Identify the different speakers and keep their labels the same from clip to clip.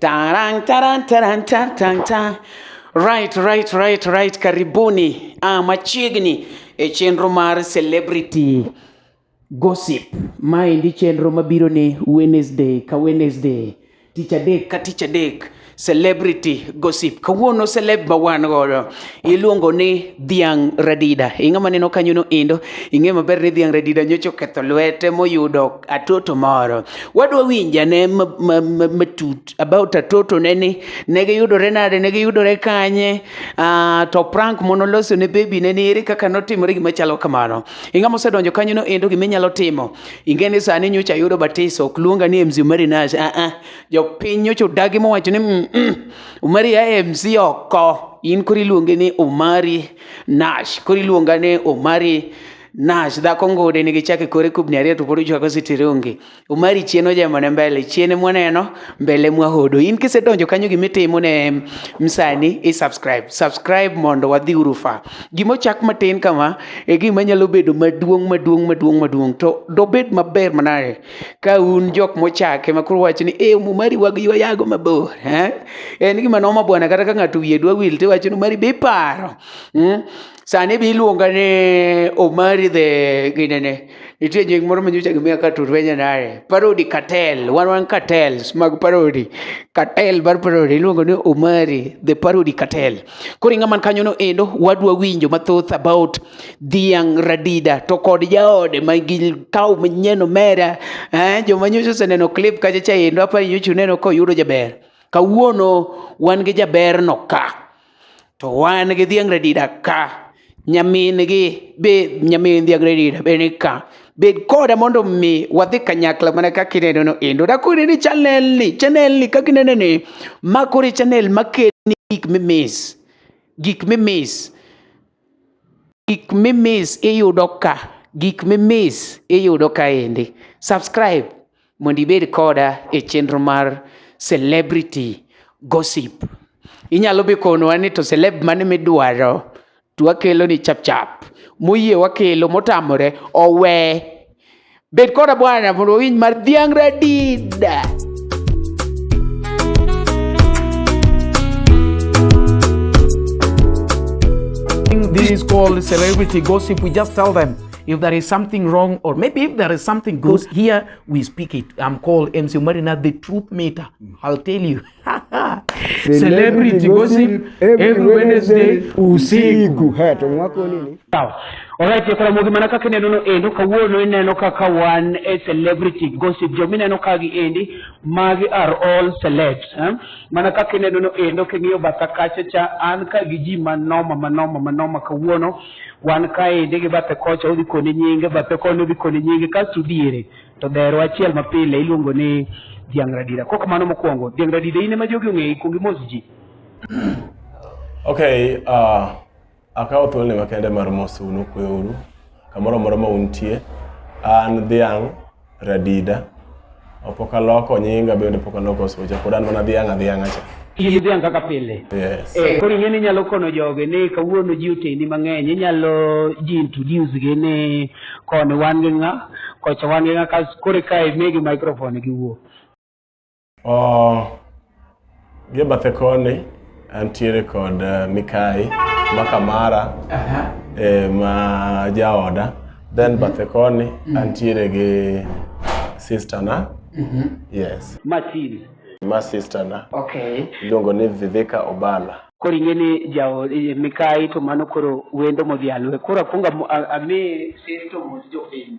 Speaker 1: Tarang, tarang, tarang, tarang, tarang, tarang. Right, right, right, right. Karibuni ah, machiegni e chenro mar celebrity gossip. Maendi chenro mabiro ni Wednesday ka Wednesday, tich adek ka tich adek celebrity gossip. Kawuono celeb ma wan godo iluongo ni Dhiang' Radida. Ing'ama neno kanyono endo, ing'e maber ni Dhiang' Radida nyocha oketho lwete moyudo atoto moro wadwa winjane matut about atoto ne ni ne giyudore nade ne giyudore kanye uh, to prank mono loso ne baby ne ni ere kaka notimore gima chalo kamano inga mosedonjo kanyo no endo gima inyalo timo ingeni sani nyocha yudo batiso ok luonga ni MC Umari Nash ah uh ah -uh. piny nyocha odagi mowacho ni mm, mm, Umari ya MC oko in kori luonge ni Umari Nash kori luonga ni Umari nash dhako ngude nigi chake kore kubni ariyo to pod ochwako sitirungi umari chien ojemone mbele chien mwaneno mbele mwahodo in kisedonjo kanyo gima itimo ne msani i subscribe subscribe mondo wadhi urufa gima ochak matin kama e gima nyalo bedo maduong' maduong' maduong' maduong' to dobed maber manade ka un jok mochake ma koro wacho ni e umari wag ywa yago mabor eh? en gima noma bwana kata ka ng'ato wiye dwa wil tiwacho ni umari be iparo hmm? Sani be iluonga ni Omari the ginene. Nitie nying moro ma nyocha gimiya ka Turvenya nare. Parody Cartel, one one cartels mag parody. Cartel mar parody iluongo ni Omari the parody cartel. Koro ing'a man kanyono endo wadwa winjo mathoth about Dhiang' Radida to kod jaode ma gi kaw manyien omera. Eh, joma nyocha oseneno clip kacha cha endo apa nyocha uneno koyudo jaber. Kawuono wan gi jaberno ka. to wan gi dhiang' radida ka nyamin gi be nyamin dhiang' radida be ni ka bed koda mondo mi wadhi kanyakla mana kaka ineno no endo dakore ni chanel ni chanel ni kaka ineno ni ma kore chanel makelni gik mimis gik mimis gik mimis iyudo ka gik mimis iyudo kaendi subscribe Mondo ibed koda e chenro mar celebrity gossip. Inyalo be konowa ni to celeb mane midwaro to wakelo ni chap chap. Moyie wakelo motamore owe. Bed koda bwana mondo wawinj mar dhiang' radida.
Speaker 2: This is called celebrity gossip. We just tell them If there is something wrong, or maybe if there is something good, here we speak it. I'm called MC Marina, the truth meter. I'll tell you. Celebrity gossip every Wednesday usiku. Sawa. Alright,
Speaker 1: kuna mugi mana kaka neno no endo kawuono ineno kaka wan e celebrity gossip jo mineno ka gi endi magi are all celebs eh? mana kaka ineno no endo king'iyo batha kacha cha an ka gi ji manoma manoma manoma kawuono Wan kaendi gi bathe kocha odhi koni nyinge, bathe koni odhi koni nyinge, kasto diere to dherwa achiel mapile iluongo ni Dhiang' Radida. Kok mano mokwongo, Dhiang' Radida in ema jogi ong'eyi, kuongi mos ji. Okay,
Speaker 3: uh, akawo thuolni makende mar mosunu kweuru kamoro amora ma untie an dhiang' Radida. Opoka loko nyinga bende poka loko socha. Pod an mana dhiang' adhiang'a cha. In dhiang' kaka
Speaker 1: pile. Yes. Eh, koro ing'e
Speaker 3: ni inyalo
Speaker 1: kono joge ni kawuono ji oteni mang'eny. Inyalo ji introduce gi ni koni wan gi ng'a, kocha wan gi ng'a, kas koro eka imigi microphone giwuo.
Speaker 3: Gi bathe koni antiere kod eh, Mikai Makamara eh, ma jaoda then mhm. bathe koni mhm. antiere gi sister na mhm. yes Matin ma sister na okay iluongo
Speaker 1: ni Viveka
Speaker 3: Obala koro ing'e ni
Speaker 1: jawo eh, Mikai to mano koro wendo modhialwe koro akwongo ami sister mos jopiny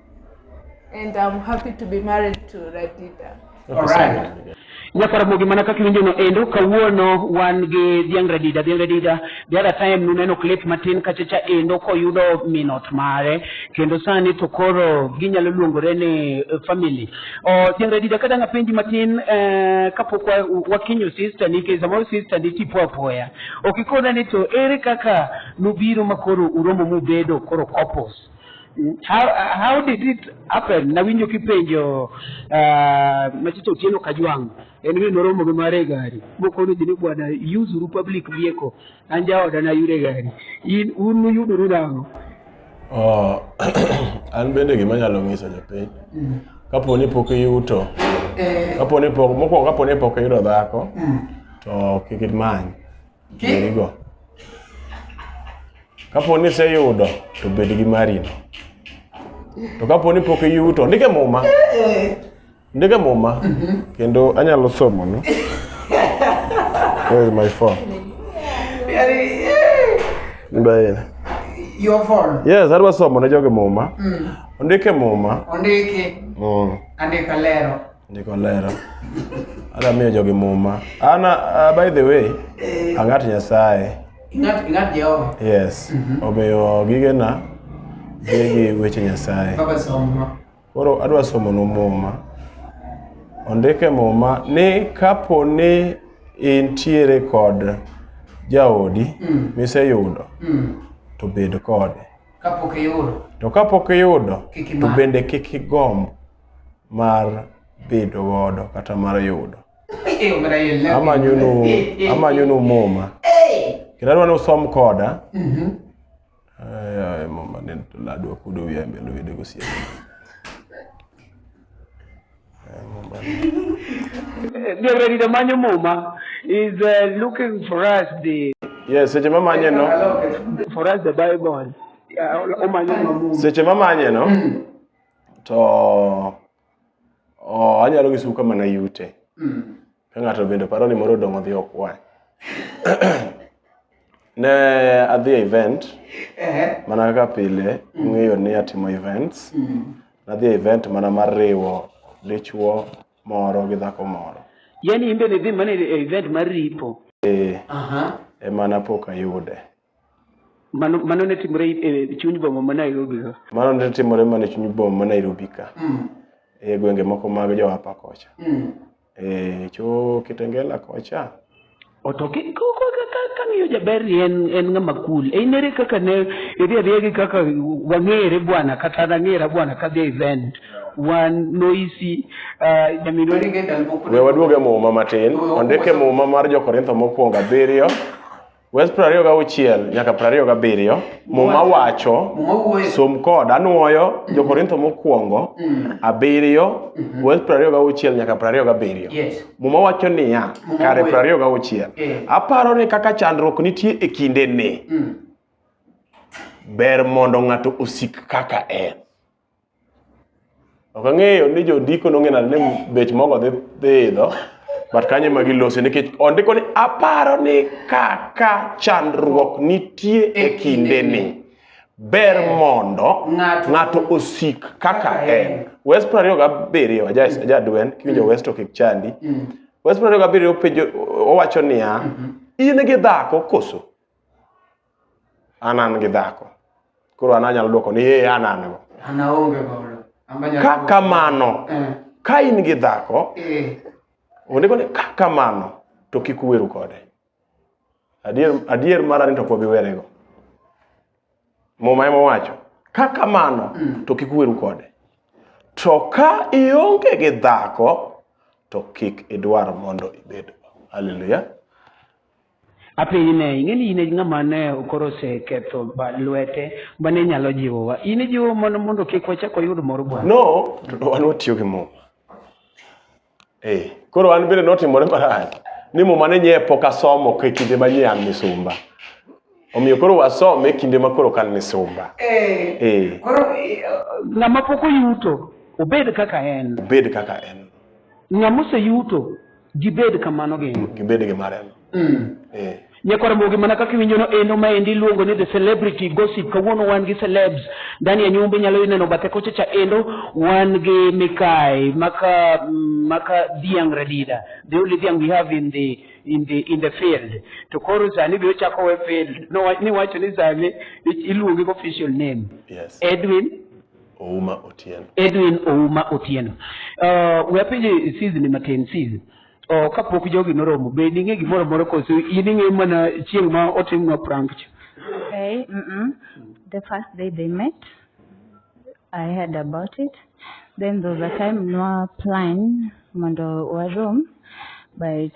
Speaker 4: And I'm happy to be married to Radida.
Speaker 1: All right. Nyakaramogi mana kaka iwinjono endo kawuono wan gi Dhiang' Radida. Dhiang' Radida the other time nuneno clip matin kachacha endo koyudo minot mare kendo sani to koro ginyalo luongore ni eh, family. Oh, Dhiang' Radida ka dang' apenji matin eh, kapok wakinyo sister ni nikech samoro sister ni tipo apoya. Ok ikona ni to ere kaka nubiro makoro uromo mubedo koro couples. How, how did it happen? Nawinjo kipenjo uh, Machito Otieno Kajwang' en ni noromo gi mare gari mokono ji ni bwana yuzuru public vehicle an jaoda nayude gari in un nuyuduru nang'o oh,
Speaker 3: an bende gima nyalo ng'iso jopiny mm. kapo ni pok iyuto eh. kapo ni pok mokwongo kapo ni pok iyudo dhako mm. to kik imany girigo kapo ni iseyudo to bed gi marino to kapo ni pok iyuto ndike muma ndike muma kendo anyalo somonu where is my phone Mbaine.
Speaker 1: Your phone. yes adwa somo ne jogi
Speaker 3: muma ondike muma Ondiki. mm.
Speaker 1: Andika lero. Ndiko lero.
Speaker 3: Ada miyo jogi muma. Ana uh, by the way, angat Nyasaye. Ingat ingat
Speaker 1: Jehova. Yes. Mm -hmm. Omiyo
Speaker 3: gigena gigi weche Nyasaye. Baba somo.
Speaker 1: Koro adwa somo
Speaker 3: no muma. Ondike muma ni kapo ni intiere kod jaodi mm. miseyudo mm. to bed kode kapok iyudo
Speaker 1: to kapok iyudo
Speaker 3: to bende kik igomb mar bedo godo kata mar yudo amanyonu amanyonu muma kendo adwa ni usom koda mhm. muma ne ladwa kudo wiya mbele wede gosiep Reverend
Speaker 1: Damanyo Muma is uh, looking for us the Yes, seche mamanye
Speaker 3: no. For us the
Speaker 1: Bible.
Speaker 3: Seche mamanye no. to oh, anyalo nyisou kama nayute mm. ka ng'ato bende paro ni moro odong' odhi okwany ne adhi e event mana kaka pile mm. ung'eyo ni atimo events mm. nadhi e event mana mar riwo dichwo moro gi dhako moro yani imbe ne dhi
Speaker 1: mana e event mar ripo eh,
Speaker 3: ema napok ayude Mano,
Speaker 1: mano ne timore e chuny boma ma Nairobi ka. Mano ne timore
Speaker 3: mana e chuny boma ma Nairobi ka. E gwenge moko mag jo hapa kocha. E cho Kitengela kocha. Oto ki-
Speaker 1: ko- ko- ka- ka- kang'iyo jaber ni en en ng'ama cool e inere kaka ne idhi adhiya gi kaka wang'ere bwana kata nang'era bwana kadhi e event wan noisi uh, nyaminwa We waduog e muma
Speaker 3: matin. Ondik e muma mar Jo-Korintho mokwongo abiriyo Wes 26 nyaka 27 Muma wacho Muma wuoyo. som kod anwoyo jo-Korintho mokwongo abiriyo Wes 26 nyaka 27 Yes. Muma wacho
Speaker 1: niya
Speaker 3: Muma kare wuoyo. 26 Eh. aparo ni kaka chandruok nitie e kindeni Mm. ber mondo ng'ato osik kaka en Ok ang'eyo ni jondiko nong'e nade ni bech mogo dhi dhi idho, but kanyo ema gilose nikech ondiko ni aparo ni kaka chandruok nitie e kindeni, ber mondo Ng'ato- ng'ato osik kaka en. West piero ariyo gabiriyo, aja aja dwen, kiwinjo West to kik chandi. West piero ariyo gabiriyo penjo owacho niya, in gi dhako koso? an an gi dhako koro an anyalo dwoko ni ee an an go an aonge godo
Speaker 1: An banyalo- ka kamano
Speaker 3: Eh, ka in gi dhako eh, onego ni ka kamano to kik uweru kode adier, adier mara ni to pok giwerego muma ema wacho ka kamano Mm. to kik uweru kode to ka ionge gi dhako to kik idwar mondo ibed haleluya Apenji
Speaker 1: ne, ing'e ni in e ng'ama ne koro oseketho ba- lwete ma ne nyalo jiwowa. In ijiwo mondo mondo kik wachak wayud mor Bwana. No, to wan watiyo
Speaker 3: gi muma. Eh, koro an bende notimore marach ni muma ne nye pok asomo e kinde ma nye an misumba. Omiyo koro wasome e kinde ma koro kan misumba. Eh, Eh, koro
Speaker 1: eh, Ng'ama pok oyuto, obed kaka en. bed kaka en.
Speaker 3: Ng'ama
Speaker 1: oseyuto, Gibed kamano gi. Gibed gi mareno.
Speaker 3: Mm. Eh.
Speaker 1: Nyakoromogi mana kaka iwinjono endo ma endi iluongo ni the celebrity gossip. Kawuono wan gi celebs ndani ya nyumba inyalo ineno bathe kocha cha endo wan gi Mikai maka mm, maka Dhiang Radida. The only Dhiang we have in the in the in the field. To koro sani be ochako we field. No ni wacho ni sani iluonge official name. Yes. Edwin Ouma
Speaker 3: Otieno. Edwin Ouma Otieno. Uh,
Speaker 1: we apenje sizi ni matin sizi. Uh, kapok jogi noromo, be ning'e gimoro moro koso in ing'e mana chieng' ma otimnwa prank cha? Okay,
Speaker 5: mm -mm. The first day they met, I heard about it. Then there was a time nwa plan mondo warom, but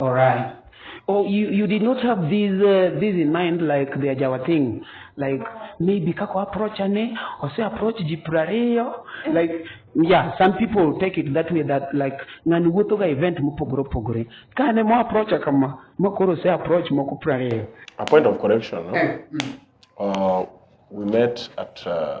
Speaker 4: All right.
Speaker 1: Oh, you, you did not have these uh, these in mind like the Ajawa thing, like maybe kako approach ane or say approach jiprareyo like yeah some people take it that way that like ngani wuotho ga event mopogore opogore kane mo approach kama makoro say approach moko prareyo. A point of correction,
Speaker 3: no? Eh, mm. uh, we met at uh,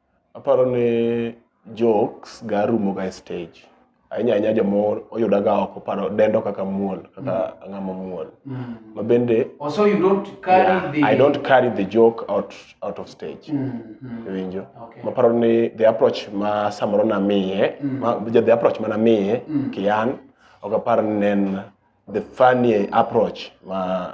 Speaker 3: Aparo ni jokes ga rumo ga e stage. Ahinya ahinya joma oyuda ga oko paro dendo kaka muol kaka mm. ang'ama muol. Mm. Ma bende oh, so you don't
Speaker 1: carry yeah, the I don't carry the
Speaker 3: joke out out of stage. Mm. Mm. Winjo. Okay. Ma paro ni
Speaker 1: the approach
Speaker 3: ma samoro na miye, mm. ma the approach ma na miye mm. kian ok aparo ni en the funny approach ma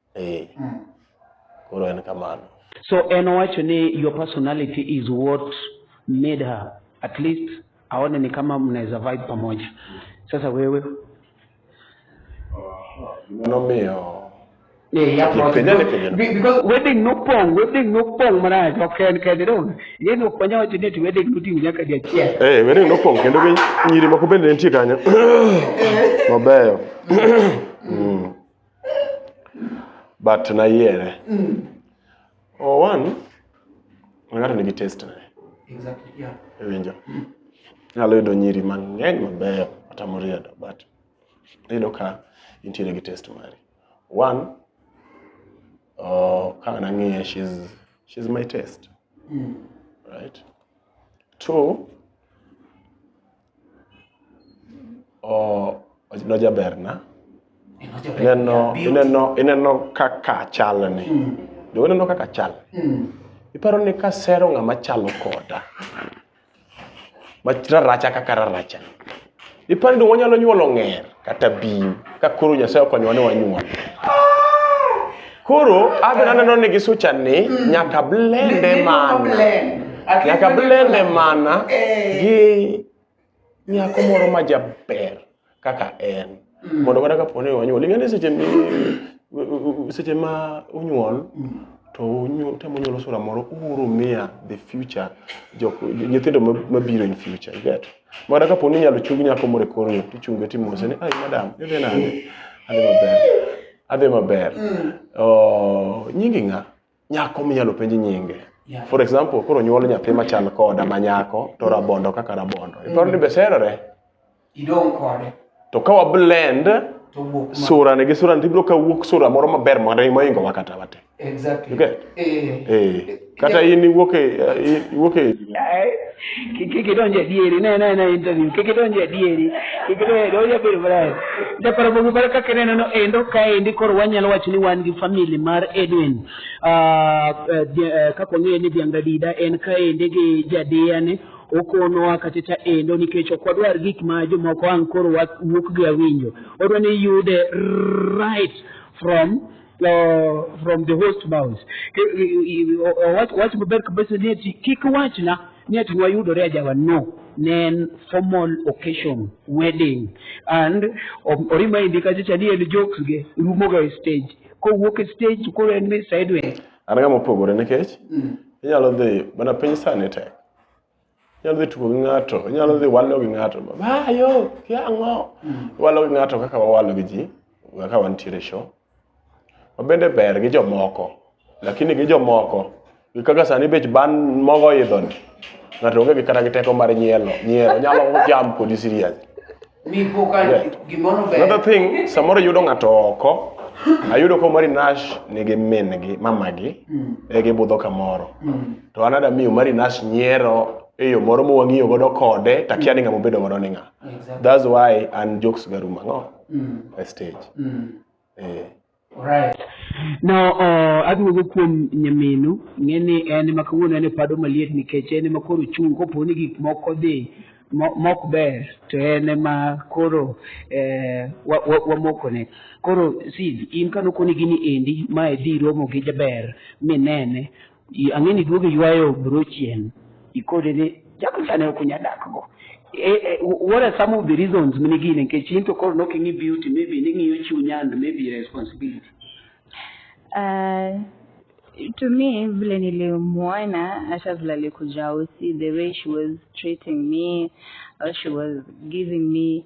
Speaker 2: eh
Speaker 3: mm. koro en kamano so en owacho
Speaker 1: ni your personality is what made her at least aone ni kama mnaweza vibe pamoja sasa wewe
Speaker 3: nomiyo Yeah, yeah, because,
Speaker 1: because wedding no pong, wedding no pong maraj, ok en kende dong. Ye no panya wacho ni wedding no ting nyaka dia chiel. Eh, wedding no pong kendo gi
Speaker 3: nyiri moko bende nitie kanyo. Mabeyo. but nayiere mm. oh, one ng'ato nigi test ne exactly,
Speaker 2: yeah. iwinjo mm.
Speaker 3: nyalo yudo nyiri mang'eny mabeyo kata moriedo but iyudo ka intiere gi test mari one oh, ka nang'iye she's, she's my test mm. right two nojaberna ineno kaka chalni hmm. jo ineno kaka chal hmm. iparo ni kasero ng'ama chalo koda mararacha kaka raracha iparo ni wanyalo nyuolo ng'er kata bim ka koro Nyasaye okonyowa ni wanyuol. Koro adhi naneno ni gisucha ni nyaka blende mana nyaka blende mana eh. gi nyako moro ma jaber kaka en mm. mondo kata kapo ni wanyuol ing'e ni seche seche ma unyuol mm. to temo nyuolo sura moro uru miya the future nyithindo mabiro in future you get Mara kapo ni inyalo chung nyako moro e kor yo, tichunge timose ni, ai madam, idhi nade? Adhi maber. Adhi maber. Mm. Oh, nyingi ng'a? Nyako minyalo penj nyinge. Yeah. For example, koro nyuol nyathi machal koda ma nyako to rabondo kaka rabondo. Iparo ni be serore? Idong'
Speaker 2: kode. to ka wablend
Speaker 3: to wuok ma- sura ne gi sura to ibiro ka wuok sura moro maber mare moingo wa kata wate Exactly. You get? Eh. eh kata in iwuok e eh, iwuok
Speaker 1: e kik idonj adieri ne ne ne interview kik idonj adieri kik idonj adieri onya bedo maber japaro bogi mar kaka ineno no endo kaendi koro wanyalo wacho ni wan gi family mar Edwin Ah, eh, di- eh, kaka wang'eyo ni Dhiang' Radida en kaendi gi jadiyane okonowa kachacha endo nikech ok wadwar gik ma jomoko ang' koro wa- wuok gi awinjo odwa ni yude right from uh, from the host mouse Ke- i- i- i- o- o- wach- wach maber kabisa ni ati kik wachna ni ati nwayudore ajawa no ne en formal occasion wedding and o- orima endi kachacha ni en jokes ge rumoga e stage kowuok e stage to koro en ni sideways an ga mopogore
Speaker 3: nikech inyalo dhi mana piny sani tek inyalo dhi tugo gi ng'ato inyalo dhi walo gi ng'ato baba yo kia ang'o walo gi ng'ato kaka wawalo gi ji kaka wantiere e show wabende ber gi jomoko lakini gi jomoko gi kaka sani bech ban mogo idhoni ng'ato onge gi kata gi teko mar nyielo nyiero onyalo jam kodi serious Another thing, samoro yudo ng'ato oko, ayudo ko Mari Nash nigi min gi, mama gi, mm. e gibudho kamoro. Mm. To anada miyo Mari Nash nyiero e yo moro mwang'iyo godo kode takia ni ng'ama obedo godo ni ng'a that's why an jokes garuma ng'o mm. e stage mm. eh.
Speaker 1: Alright. No, uh, aduogo kuom nyaminu ng'e ni en ema kawuono en e pado maliet nikech en ema koro ochung' kopo ni gik moko dhi mo- mok ber to en ema koro eh, wa- wa- wamokone koro si in kanokoni gini endi ma idhi romo gi jaber minene I- ang'e ni duogo ywayo bro chien ikode ni jago sane ok unya dakgo Eh, eh, what are some of the reasons mine gine nikech in to koro nok ing'i beauty maybe ning'iyo chuny and maybe responsibility Uh,
Speaker 5: to me vile nilimuona hata vile alikuja usi the way she was treating me or she was giving me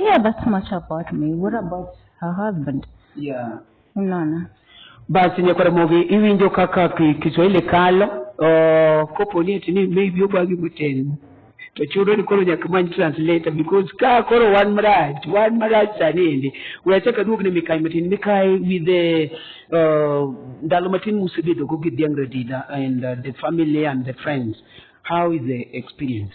Speaker 5: yeah that's much about me what about her husband yeah
Speaker 1: unaona
Speaker 5: basi
Speaker 1: nyakwara mogi iwinjo kaka kiswahili kalo uh, kopo ni eti ni maybe obagi muteni to chudo ni koro nyaka many translator because ka koro wan marach wan marach sani endi we achak aduog ne mikai matin mikai with the uh, ndalo matin musebedogo gi dhiang' radida and uh, the family and the friends how is the experience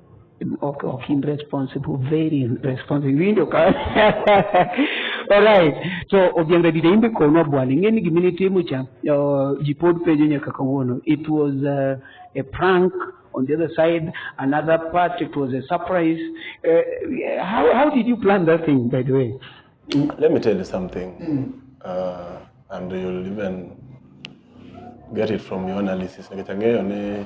Speaker 4: ok
Speaker 1: ok in responsible very responsible winjo ka alright so obiang radida imbe konwa bwana ing'e ni gimine timo cha uh, ji pod penjo nyaka kawuono it was uh, a prank on the other side another part it was a surprise uh, how, how did you plan that thing by the way let me tell
Speaker 3: you something mm. uh, and you'll even get it from your analysis nikachang'eyo ni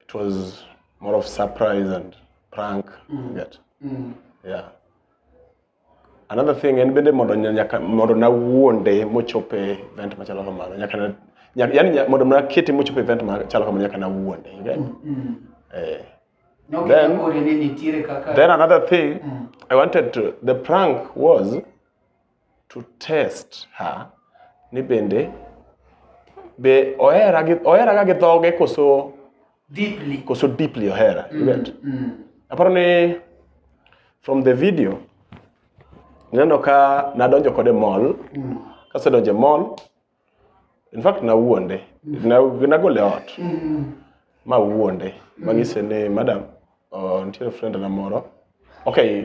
Speaker 3: it was more of surprise and prank mm. get mm. yeah another thing en bende mondo nyaka mondo nawuonde mochope event machalo kamano nyaka na yani mondo nakete mochope event machalo kamano nyaka nawuonde you get mm. mm. eh no, then, then another thing mm. i wanted to the prank was to test her ni bende be ohera gi ohera ga gi dhoge koso Deeply. koso deeply ohera you get Mm. aparo ni from the video naneno ka nadonjo kode mall Mm. kasedonje mall in fact nawuonde Na- nagole e ot ma wuonde manyise ni madam uh, nitiere friend na moro okay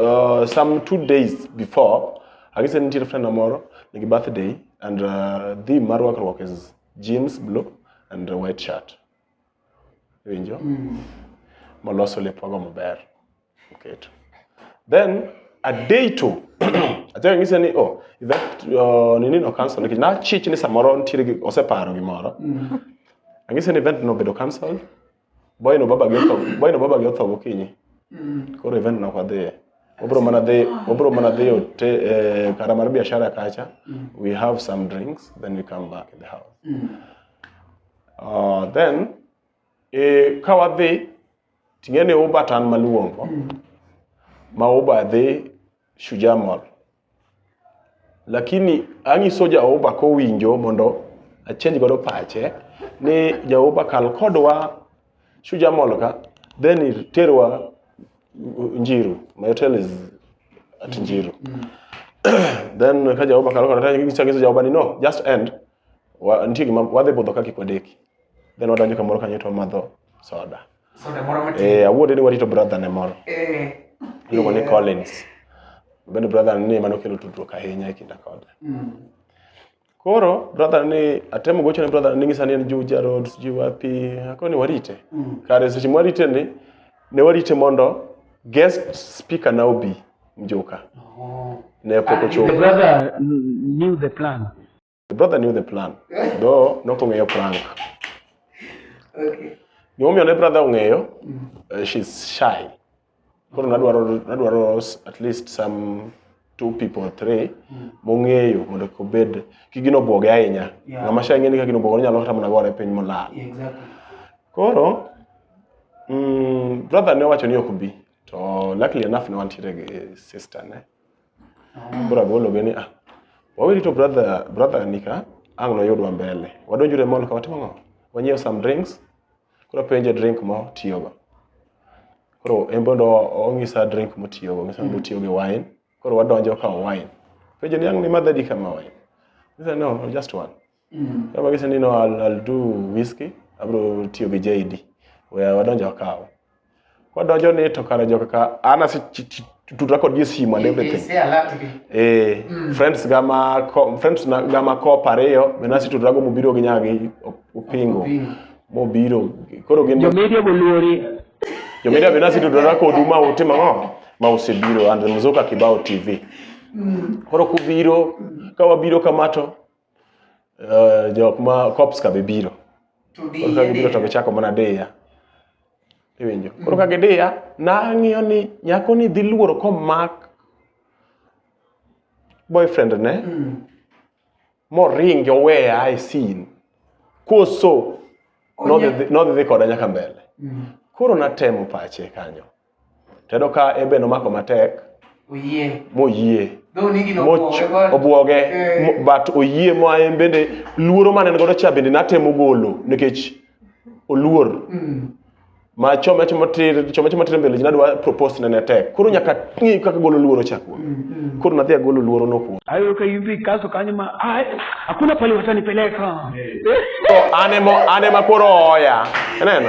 Speaker 3: uh, some two days before agise ni nitiere friend na moro nigi birthday and uh, the mar rwakruok is jeans blue and a white shirt winjo maloso lepwago maber Oketo. Then a day two achako nyise ni oh that uh, nini no cancel nikech nachich ni samoro nitiere gi oseparo gimoro mm. ang'ise ni event no bedo cancel boy no baba gi otho boy no baba gi otho gokinyi mm. koro event no kwadhiye wabro mana dhi wabro mana dhi ote eh, kara mar biashara kacha mm. we have some drinks then we come back in the house mm. uh, then eh, ka wadhi Ting'e ni uba tan maluongo mm. ma uba dhi Shujaa Mall. Lakini ang'iso Jehova kowinjo mondo achenj godo pache ni Jehova kal kodwa Shujaa Mall ka then iterwa Njiru. My hotel is at Njiru. Mm. then ka Jehova kal kodwa to ang'iso Jehova ni no just end. Wa, nitie gima wadhi budho kaka kwadeki. then wadonjo kamoro kanyo to wamadho soda Soda moro matin. eh awuode ni warito brother ne moro Eh. iluongo ni Collins bende brother ni mano kelo tudruok ahinya e kinda kode Mm. koro brother ni atemo gocho ne brother ni ngisa ni en Juja Road sijui wapi akoni ni warite Mm. kare seche mwarite ni ne warite mondo guest speaker na obi mjuka Oh. ne pok Ah, the ochopo brother knew
Speaker 2: the plan. The brother knew the
Speaker 3: plan. Though nok ong'eyo prank. Okay.
Speaker 1: Gimomiyo
Speaker 3: ne brother ong'eyo, uh, she's shy. Koro nadwaro nadwaro s- at least some two people or three mong'eyo mondo kik obed kik gino obwoge ahinya. Yeah. Ng'ama shy ng'eni ka gino obwoge onyalo kata mana gore piny molal. Yeah, exactly.
Speaker 1: Koro
Speaker 3: mm, brother ne owacho ni ok bi to luckily enough ne wantiere gi sister ne. Bro agolo gini ah. Wawili to brother brother nika ang no yudwa mbele. Wadonjure mall ka watimo ngo. Wanyiew some drinks. Koro penje drink mo tiyogo. Koro en bondo ong'isa drink motiyogo, ng'isa ni otiyo gi wine. Koro wadonjo ka wine. Penje ni ang' ni madhadi kama wine. Ng'isa no, no, just one. Mm. Kama gise ni no I'll, I'll do whiskey, abro tiyo gi JD. Wea wadonjo akawo. Kwadonjo ni to kare joka ka ana si tutra kod ji simu and everything. Eh, mm. friends gama ko, friends na gama ko pareyo, bena si tutra go mubiro gi nyagi opingo. Mobiro. Koro gin Jomedia boluori.
Speaker 2: Jomedia bena
Speaker 3: si tutra kod uma utimo ngo? Ma usebiro and Mzuka Kibao TV. Mm. Koro kubiro, kawabiro kamato, Uh, jok ma cops ka be biro koro ka gibiro to gichako mana diya iwinjo koro ka gidiya nang'iyo ni nyako ni dhi luoro komak boyfriend ne mm. moringi oweya e sin koso nodhi dhi koda nyaka mbele mm. koro natemo pache kanyo Tedo ka ebe nomako matek.
Speaker 1: Oyie.
Speaker 3: Moyie.
Speaker 1: Obwoge. Eh.
Speaker 3: But oyie ma en bende luoro mane godo cha bende natemo golo nikech oluor. Mm. Ma chome chome tir chome chome tir mbele jina dwa propose ne tek. Koro nyaka ng'i kaka golo luoro cha kuom. Mm, mm. Koro nadhi agolo luoro no kuom. Ayo ka yubi kaso
Speaker 2: kanyo ma ai hakuna pale watanipeleka. Eh. So
Speaker 3: anemo anema koro oya. Neno.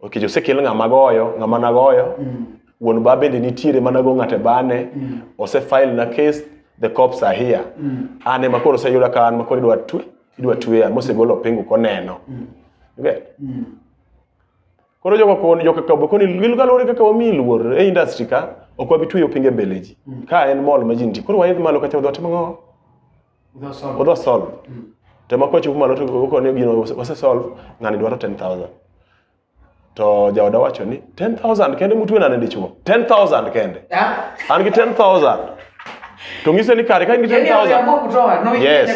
Speaker 3: ok jo sekel ng'ama goyo ng'ama nagoyo mm. wuon ba bende nitiere mana go ng'ate bane mm. ose file na case the cops are here mm. ane makoro se yuda kan makoro idwa tu idwa tuya mose golo pingu koneno mm. okay mm. koro jogo kon jogo kabo koni lil galore kaka wami luor e industry ka ok wabi tuyo pinge beleji mm. ka en mall majinti koro waidh malo kacha dhote mango odwa solve mm. to ma kwachopo malo to koko ni gino wase solve ng'ani dwaro 10000 to jaoda wacho ni 10000 kende mutwe nane dichuo 10000 kende an gi 10000 to ng'ise ni kare ka in gi 10000 yes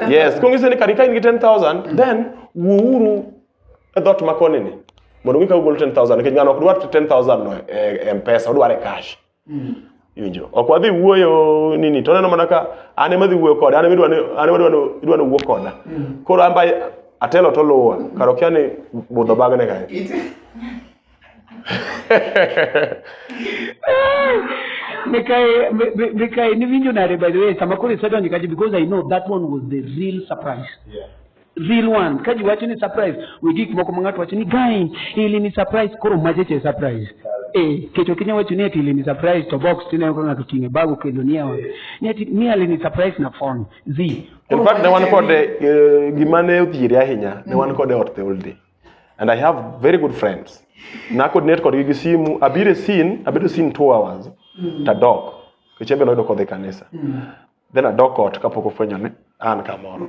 Speaker 3: yes ko ng'ise ni kare ka in gi 10000 mm. then wuuru e dhot makoni ni mondo ng'ika ugol 10000 nikech ng'ano ok dwar 10000 no e, e mpesa odware cash iwinjo ok wadhi wuoyo nini to oneno mana ka an ema dhi wuoyo koda an ema idwa ni an ema idwa ni idwa ni wuo koda koro an ba atelo to luwa kar okia ni budho bagne kae Mikae,
Speaker 1: Mi- Mi- Mikae, niwinjo nade by the way, sama koro isedonjo kacha because I know that one was the real surprise. real one ka ji wacho ni surprise we gik moko ma ng'ato wacho ni guy ili ni surprise koro mache che surprise eh kecho kinya wacho ni ati ili ni surprise to box tine ko ng'ato tinge bago kendo ni awa ni ati mi ali ni surprise na phone zi In fact, ne
Speaker 3: wan kode eh, gima ne othiere ahinya ne wan kode ot the whole day and i have very good friends nacoordinate kodgi gi simu abiro e sin abedo sin two hours tadok kech ebe noyudo kodhi kanisa then adok ot kapok ofwenyo ni an kamoro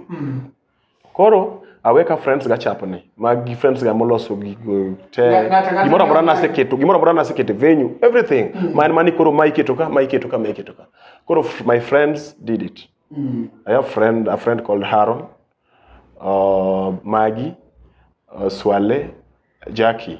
Speaker 3: koro awe ka friends ga chapni ma gi friends ga moloso gigo te Ng'a- ng'ato- ng'ato- gimoro amora naseketo gimoro amora naseketo e venue everything ma en mani koro ma iketo ka ma iketo ka ma iketo ka koro f- my friends did it I have friend a friend called Haron uh, Maggie uh, Swale Jackie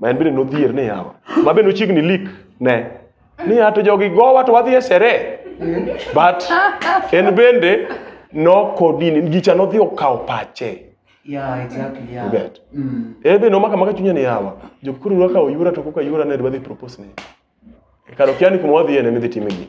Speaker 3: ma en bende nodhier ni yawa ma bende ochiegni lik ne ni ato jogi gowa to wadhi e sere but en bende nokodini gicha nodhi okawo pache Yeah, exactly,
Speaker 1: yeah. You get? Mm.
Speaker 3: Eh, be no maka maka chunya ni yawa. Jokuru waka oyura to koka yura ne dwadhi propose ni. Kado kiani kumwadhi ene midhi timegi.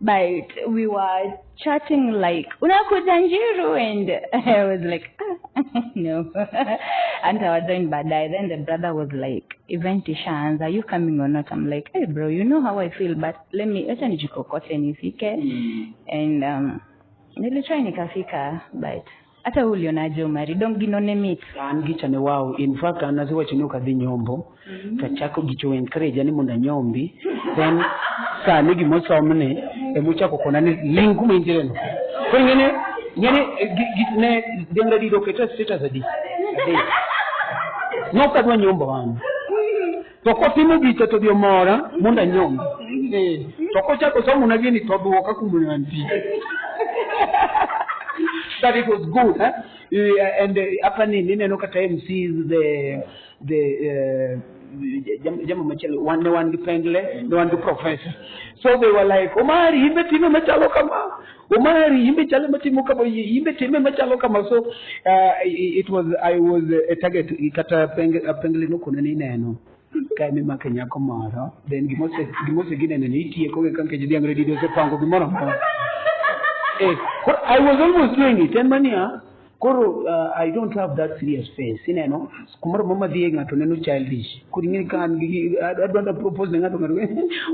Speaker 5: but we were chatting like unakuja njiru and i was like ah, no and i was doing badai then the brother was like event ishans are you coming or not i'm like hey bro you know how i feel but let me acha nijikokote nifike mm. and um nilitry nikafika but Hata ulionaje Omari? Dong gino ne mit. an gicha ne wow
Speaker 1: in fact an asewacho ni ok adhi nyombo to achako gicha encourage ni mondo anyombi then sani gima osomni ema ochako kona ni ling kuma intiere no koro ing'eni ing'eni eh, gi- gi- ne dhianga dido keta status adi Adek. nokadwa nyombo an To kotimo gicha to odhi omora mondo anyombe. Eh, to kochako somona gini to odwoka kuma ne antie. But it was good, eh? Eh, And eh, hapa ni nineno kata MC the the eh, jam- jambo machielo wan ne wan gi pengle ne wan gi professor so they were like omari in be timo machalo kama Omari, imbe chale matimo kama, imbe time machalo kama. So uh, it was I was a target kata peng- a pengli nokone ni neno ka emi make nyako moro then gimose gimose ginene ni itieko gi kanke jidhiang redi dosepango gimoro amora eh, koro I was almost doing it en mania koro uh, i don't have that serious face ineno kumoro mama dhie ng'ato neno childish kodi ng'eni ka an gi adwanda propose ne ng'ato ng'ato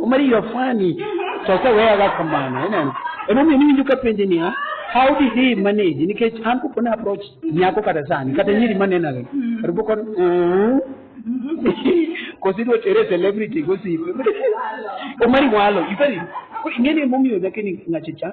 Speaker 1: omari you are funny to aseweyaga kamano ineno emomiyo niwinjo ka penje niya how did he manage nikech an kopo ne approach nyako kata sani kata nyiri manenore kata poko kosi idwa tere celebrity gosipe omari walo ing'eni emomiyo nyakeni ng'achicha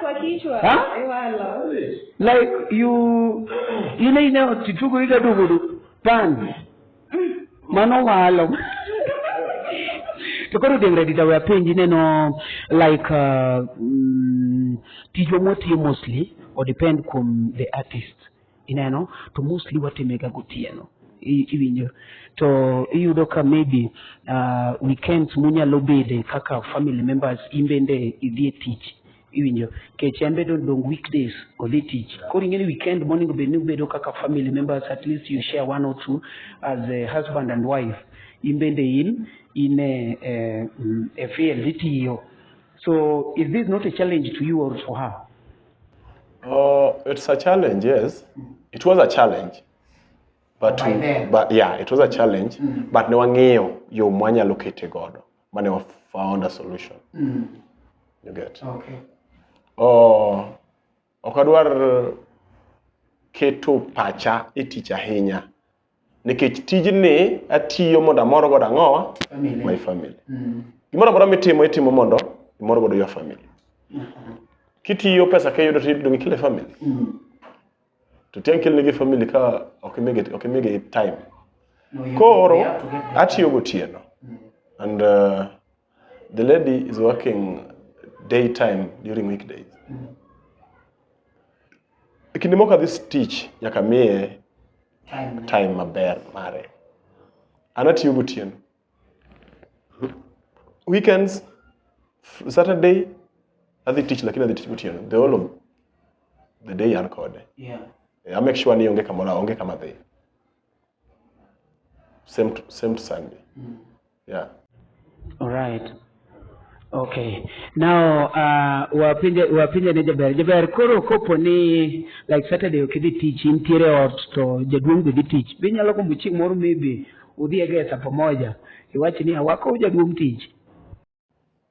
Speaker 5: kwa kichwa Huh? ewala like
Speaker 1: you ile ine tituku ika dugudu pan mano walo to koro dengre dita we penji neno like uh, mm, tijwa mwatiyo mostly or depend kuom the artist ineno to mostly watimega gotieno I- iwinjo to iyudo ka maybe uh, weekends munyalo bede kaka family members in bende idhi e tich iwinjo kech en bedo dong weekdays odhi tich koro ing'eni weekend monego bed ni ubedo kaka family members at least you share one or two as a husband and wife in bende in in a, a, a field itiyo so is this not a challenge to you or to her Oh,
Speaker 3: it's a challenge, yes. It was a challenge. But, By then. but yeah, it was a challenge. But ne wang'iyo yo mwanyalo kete godo. Mane wa found a solution. You get. Okay.
Speaker 1: Oh,
Speaker 3: ok adwar keto pacha e tich ahinya nikech tijni atiyo mondo amor godo ang'owa Family. my family Mm. gimoro amora mitimo itimo mondo imor godo your family kitiyo pesa kiyudo to idong ikele family Mm. to tiang' kelnegi family ka ok imigi ok imigi time No, you- koro you have to get that. atiyo gotieno and uh, the lady is working daytime during weekdays e kinde moko adhi stich nyaka miye time maber mare an atiyo gotieno weekends f- saturday adhi tich lakini adhi tich gotieno the whole of the day an kode Yeah. Eh, I
Speaker 1: make sure ni
Speaker 3: onge kamoro onge kama dhi same to, same to sunday Mm. Yeah. All
Speaker 1: right. Okay. Now, uh, wapinje, wapinje ne jaber. Jaber, koro kopo ni, like Saturday ok idhi tich, intiere ot to jaduong' be dhi tich. Be inyalo gombo chieng' moro maybe udhi e gesa pamoja. Iwach ni awako jaduong' tich.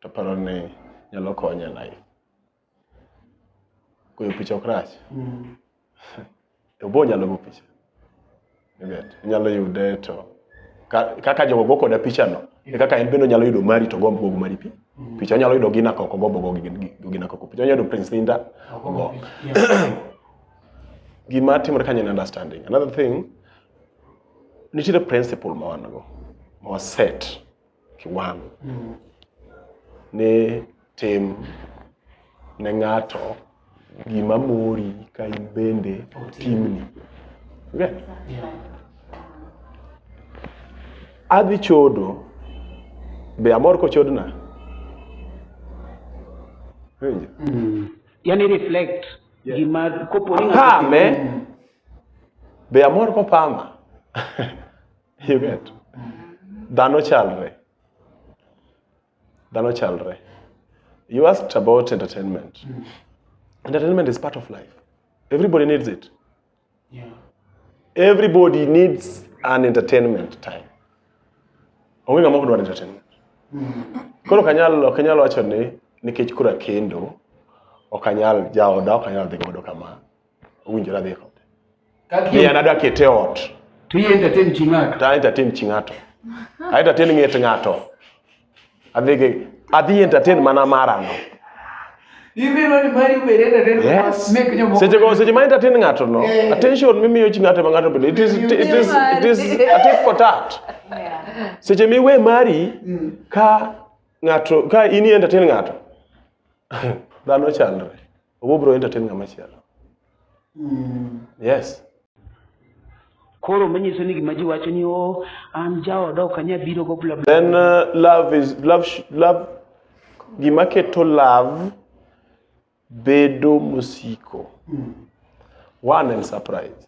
Speaker 3: to paro ni nyalo konye life goyo picha ok rach mm. to bo nyalo go picha ibet inyalo yude to kaka jogo go koda pichano e kaka en bende onyalo yudo mari to gombo gogo mari pi mm. picha onyalo yudo gina koko gombo gogo gina koko picha onyalo yudo prince linda ogo gima timore kanyo en understanding another thing nitiere principle ma wan go ma waset kiwango ni tim ne ng'ato gima mori ka in bende timni. Okay? Adhi chodo, be amor kochodna? Winjo?
Speaker 1: yani reflect gima kopo ni ng'ato- Pame,
Speaker 3: be amor kopama? You get? Dhano chalre. Dhano chalre. You asked about entertainment. Entertainment is part of life. Everybody needs it. Yeah. Everybody needs an entertainment time. Onge ng'ama ok dwar entertainment. Koro ok anyal ok anyal wacho ni nikech kura kendo ok anyal jaoda ok anyal dhi godo kama. owinjore adhi kode. Ni an adwa kete ot. To i entertain chi
Speaker 1: ng'ato. To entertain chi ng'ato.
Speaker 3: I entertain ng'et ng'ato. Adhi gi adhi entertain mana mara no.
Speaker 1: Ibiro ni mari ubed entertain. Yes. Make jomoko. Seche
Speaker 3: go seche
Speaker 1: ma entertain
Speaker 3: ng'ato no. Eh. Attention mimiyo chi ng'ato ma ng'ato bedo. It is it is it is a tit for tat. Seche
Speaker 4: miwe mari
Speaker 3: mm. ka ng'ato ka ini entertain ng'ato. Dhano chalre. Obo bro entertain ng'ama chielo. Yes.
Speaker 1: Koro manyiso ni gima ji wacho ni oh, an jaoda ok anya biro go bla bla. Then uh, love
Speaker 3: is love sh- love gima keto love bedo mosiko. One and surprise.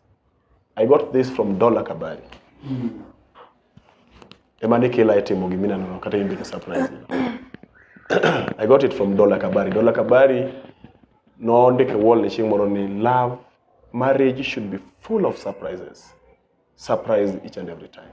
Speaker 3: I got this from Dola Kabari. Ema ni kila itimo gi mina nono kata imbe ni surprise. I got it from Dola Kabari. Dola Kabari noondike wall ni chieng' moro ni love marriage should be full of surprises. Surprise each and every time.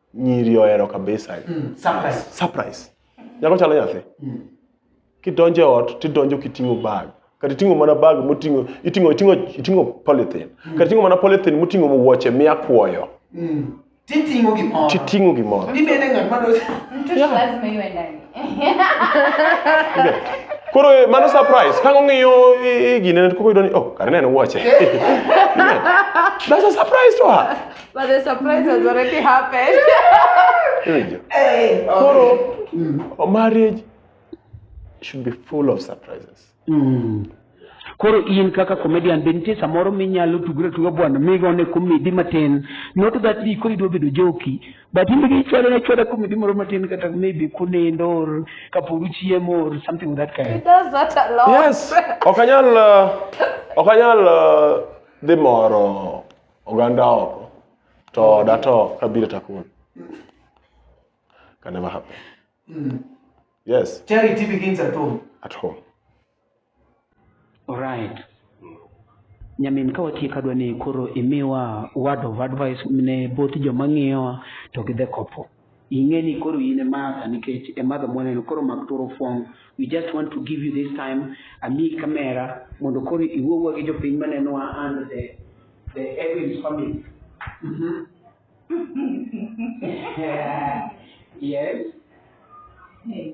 Speaker 3: nyiri ohero kabisa mm, surprise surprise nyako chalo nyathi mm. kidonjo e ot tidonjo kiting'o bag kata iting'o mana bag moting'o iting'o iting'o iting'o polythene mm. kata iting'o mana polythene moting'o wuoche miya kwoyo mm. titing'o
Speaker 1: gimoro titing'o gimoro ibende
Speaker 3: ng'at
Speaker 1: ma dos mtu
Speaker 5: lazima iwe ndani
Speaker 3: koro eh, mano surprise kang ong'iyo gine koko yudo ni oh kare ne en wuoche that's a surprise to her But the
Speaker 4: surprise has already happened.
Speaker 3: hey, Koro, mm. a marriage should be full of surprises. Mm.
Speaker 1: Koro in kaka comedian be nitie samoro minyalo tugre tuga bwana migone komedi matin not that ni koro idwa bedo joki but in gi chwalo na chwalo komedi moro matin kata maybe kunendo or kapod uchiemo or something of that kind. It does that a lot.
Speaker 4: Yes. Okanyal
Speaker 3: uh, okanyal uh, dhi moro oganda oko to oda to kabiro takun can never happen mm. yes charity begins at
Speaker 1: home at home
Speaker 3: all
Speaker 1: right nyamin ka watieko adwa ni koro imiwa word of advice ne both joma ng'iyowa to gi the couple ing'e ni koro in e Martha nikech e Martha mwaneno koro mak turo fong we just want to give you this time ami kamera mondo koro iwuowa gi jopiny manenowa and the, the Evans family mm -hmm. yeah. yes hey.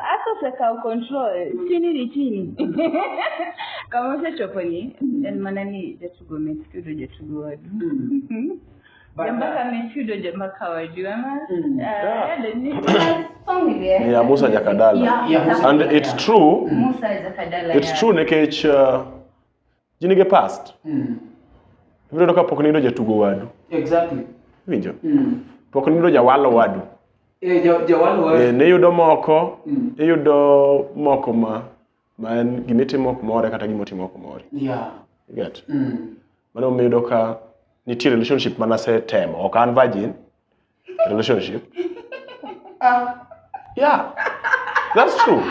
Speaker 5: hata usakao control chini ni chini kama usechopo ni en mana ni jatugo mechudo jatugo wadu But, jambaka mechudo jambaka wadu ama Mm. uh, Yeah. yado ni song
Speaker 3: ile ya- ni ya Musa Jakadala Yeah, yeah, Musa and it's true Musa Jakadala
Speaker 5: it's ya- true nikech
Speaker 3: uh, ji nigi past Mm. ibiro yudo ka pok nindo jatugo wadu Exactly.
Speaker 1: winjo Mm.
Speaker 3: pok nindo jawalo wadu Eh, ja- jawalo
Speaker 1: wa- Eh, niyudo moko
Speaker 3: Mm. iyudo moko ma ma en gimitimo ok more kata gimotimo ok more Yeah. You get Mm. mano miyudo ka nitie relationship mana setemo ok an virgin relationship yeah that's true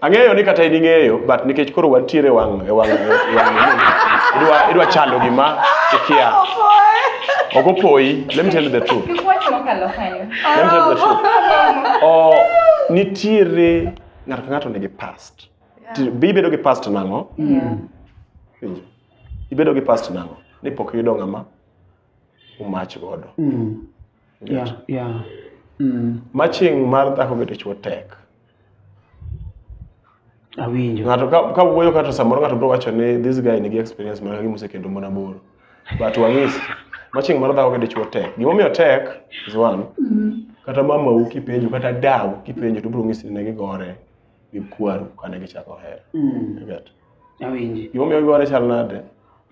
Speaker 3: ang'eyo ni kata in ing'eyo but nikech koro wantiere e wang' e wang' e wang' idwa idwa chando gima ikia ok opoyi let me tell you the truth Kik wach mokalo kanyo. let me tell you the truth oh nitiere ng'ato ka ng'ato nigi past Ti- be ibedo gi past nang'o Yeah. Winjo. ibedo gi past nang'o ni pok iyudo ng'ama umach godo mm. yeah, yeah. Mm. maching mar dhako gi dichwo tek
Speaker 1: awinjo ng'ato ka, ka wuoyo
Speaker 3: kata samoro ng'ato biro wacho ni this guy nigi experience mana gi mosekendo mon aboro but wang'isi maching mar dhako gi dichwo tek gimomiyo tek is one mm. kata mamau kipenjo kata dau kipenjo to biro ng'isi ne gigore gi kwaru kane gichako hera mm.
Speaker 1: Awinji. Gimomiyo giwore
Speaker 3: chal nade?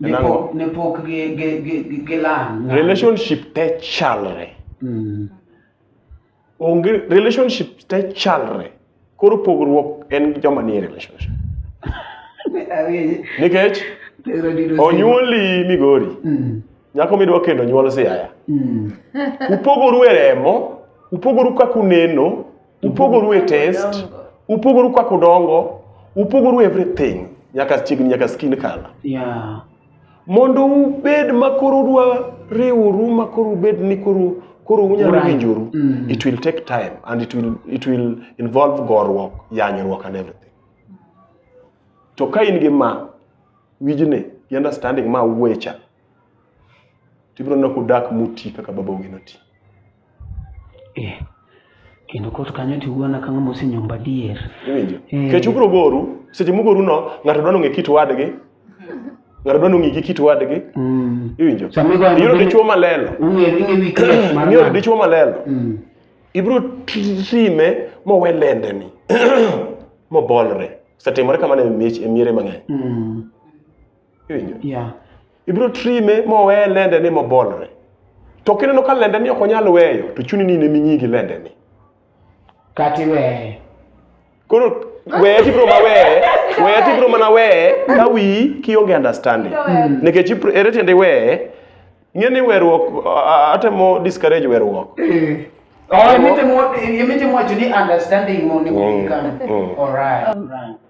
Speaker 3: En Ne ang'o? pok- Ne
Speaker 1: pok gi- gi- gi- gi- gilang'. Relationship te
Speaker 3: chalre. Mm. Onge relationship te chalre. Koro pogruok en joma nie relationship. Awinji. Nikech Tero dino simo. onyuoli Migori, Mm. nyako midwa kendo nyuol Siaya. Mm. Upogoru e remo, upogoru kaka uneno, upogoru e test upogoru kaka udongo upogoru everything nyaka chiegni nyaka skin color yeah. mondo ubed ma koro udwa riwru ma koro ubed ni koro koro unyalo Right. winjoru Mm. it will take time and it will, it will involve gorruok yanyruok and everything to ka in gi ma wijni gi understanding ma wecha tibiro neno kudak muti kaka babaugi noti eh.
Speaker 1: kendo kot kanyo tiwuona ka ng'ama osenyomba dier iwinjo eh. kech
Speaker 3: ubiro goru seche mugoru no ng'ato dwa nong'e kit wadgi ng'ato dwa nong'e gi kit wadgi mm. iwinjo iyudo dichuo malelo iyudo dichuo malelo mm. ibiro time mowe lendeni mobolre osetimore kamano e miere mang'eny mm. iwinjo yeah. ibiro trime mowe lende ni mobolre to kineno ka lende ni ok onyal weyo to chuni ni nemi nyigi lende ni
Speaker 1: kati weye koro
Speaker 3: weye tibiro ma weye weye tibiro mana weye ka wi kionge understanding mm. nikech ere tiende weye ng'e ni weruok atemo discourage weruok mm. Oh, you mean to
Speaker 1: watch you need understanding more. Mm. Mm. All right. All right.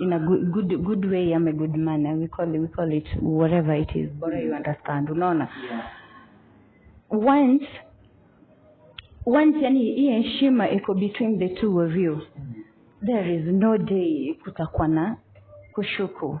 Speaker 5: in a good, good, good way ama good manner we call, it, we call it whatever it is bora you understand unaona once once yani hii heshima iko between the two of you there is no day kutakuwa na kushuku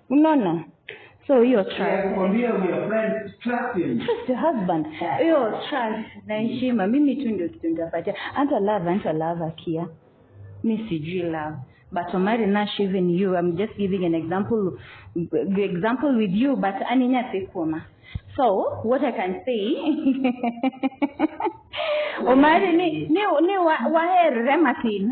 Speaker 5: unaona so hiyo trust Nakwambia we are
Speaker 1: friends, trust him. trust your husband
Speaker 5: hiyo trust na heshima mimi tu ndio kitu nitapatia hata love hata love akia mi sijui love but omari nash even you i'm just giving an example example with you but aninyasikuoma so what i can say omari ni, ni, ni wa, waherre matin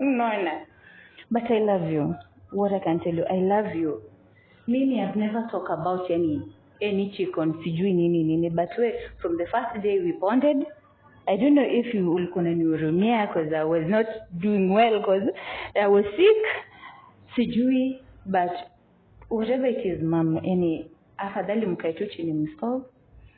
Speaker 5: Unaona? But I love you. What I can tell you, I love you. Mimi I've never talked about any any chicken sijui nini nini but we from the first day we bonded I don't know if you ulikuwa unanihurumia because I was not doing well because I was sick sijui but whatever it is mom yani afadhali mkae tu chini msolve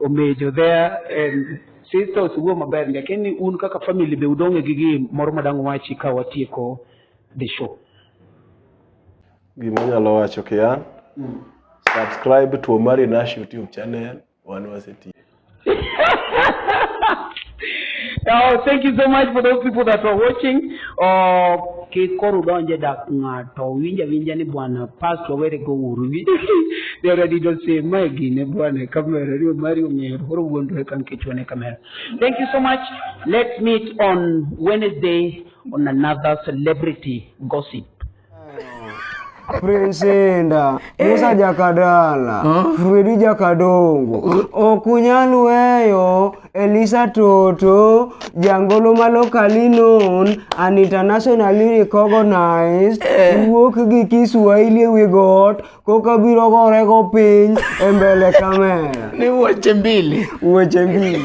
Speaker 1: omejo there and sister osewuo maber lakini un kaka family be udonge gi gi moro madang wachi ka watieko the show gima
Speaker 3: anyalo wacho kian mm. subscribe to Omari Nash YouTube channel wan waseti
Speaker 1: Oh, thank you so much for those people that were watching. Uh, Kik koro udonj e dak ng'ato, winj awinja ni bwana past wawere go uru gi. They already don't say my gine bwana kamera rio mario ngero koro wuondore kan kichwane kamera. Thank you so much. Let's meet on Wednesday on another celebrity gossip.
Speaker 6: Prinsenda eh. Musa Jakadala Fredi Jakadongo Okunyal weyo Elisa Toto, jangolo ma locally known and internationally recognized, eh. wuok gi Kiswahili e wi got koka biro gore go piny e mbele kamera. Ni wuoche mbili.
Speaker 2: Wuoche mbili.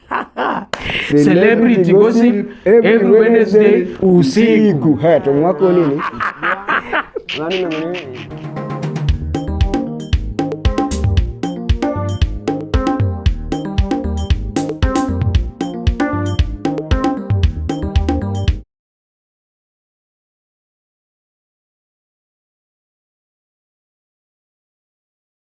Speaker 2: Celebrity gossip every Wednesday
Speaker 6: usiku. Haya,
Speaker 2: tomu wako
Speaker 6: nini?